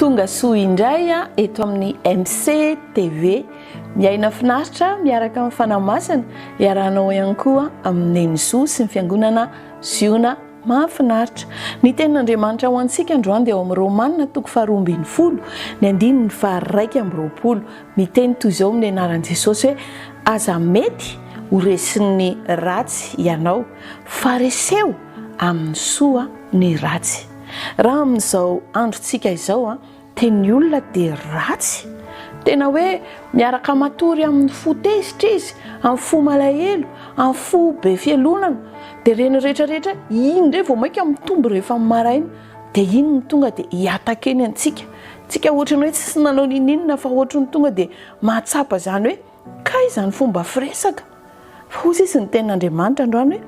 Tonga soa indray eto amin'ny MC TV. Miaina finaritra miaraka amin'ny Fanahy Masina. Iarahanao ihany koa amin'ny Neny Zo sy ny Fiangonana Ziona mahafinaritra. Ny tenin'Andriamanitra ho antsika androany dia ao amin'ny Romanina toko faharoa ambin'ny folo, ny andininy faharaika amby roapolo. Miteny toy izao amin'ny anaran'i Jesosy hoe, Aza mety ho resin'ny ratsy ianao, fa reseo amin'ny soa ny ratsy. Raha amin'izao androntsika izao dia ny olona dia ratsy, tena hoe miaraka matory amin'ny fo tezitra izy, amin'ny fo malahelo, amin'ny fo be fialonana, dia ireny rehetra rehetra iny indray vao mainka mitombo rehefa maraina, dia iny no tonga dia hi-attaquer ny antsika, antsika ohatran'ny hoe tsy nanao ninoninona fa ohatran'ny tonga dia mahatsapa izany hoe. Kay izany fomba firesaka fa hoy sisa ny tenin'Andriamanitra androany hoe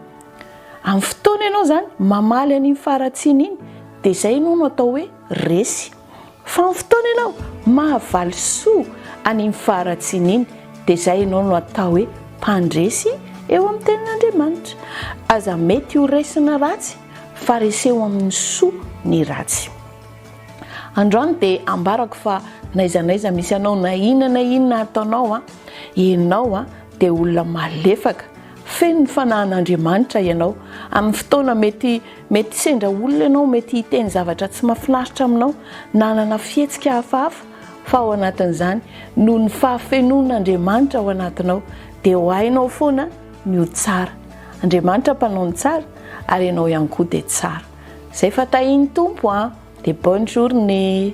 amin'ny fotoana ianao izany mamaly an'iny faharatsiana iny dia izay ianao no atao hoe resy. Fa amin'ny fotoana ianao mahavaly soa an'iny faharatsiana iny dia izay ianao no atao hoe mpandresy eo amin'ny tenin'Andriamanitra. Aza mety ho resy ny ratsy fa reseho amin'ny soa ny ratsy. Androany dia ambarako fa n'aiza n'aiza misy anao na inona na inona ataonao a, ianao a dia olona malefaka, feno ny fanahin'Andriamanitra ianao, amin'ny fotoana mety mety sendra olona ianao, mety hiteny zavatra tsy mahafinaritra aminao, nanana fihetsika hafahafa fa ao anatin'izany noho ny fahafenoan'Andriamanitra ao anatinao dia ho hainao foana ny ho tsara. Andriamanitra mpanao ny tsara ary ianao ihany koa dia tsara. Zay fa tahin'ny Tompo an! Dia bonne journée!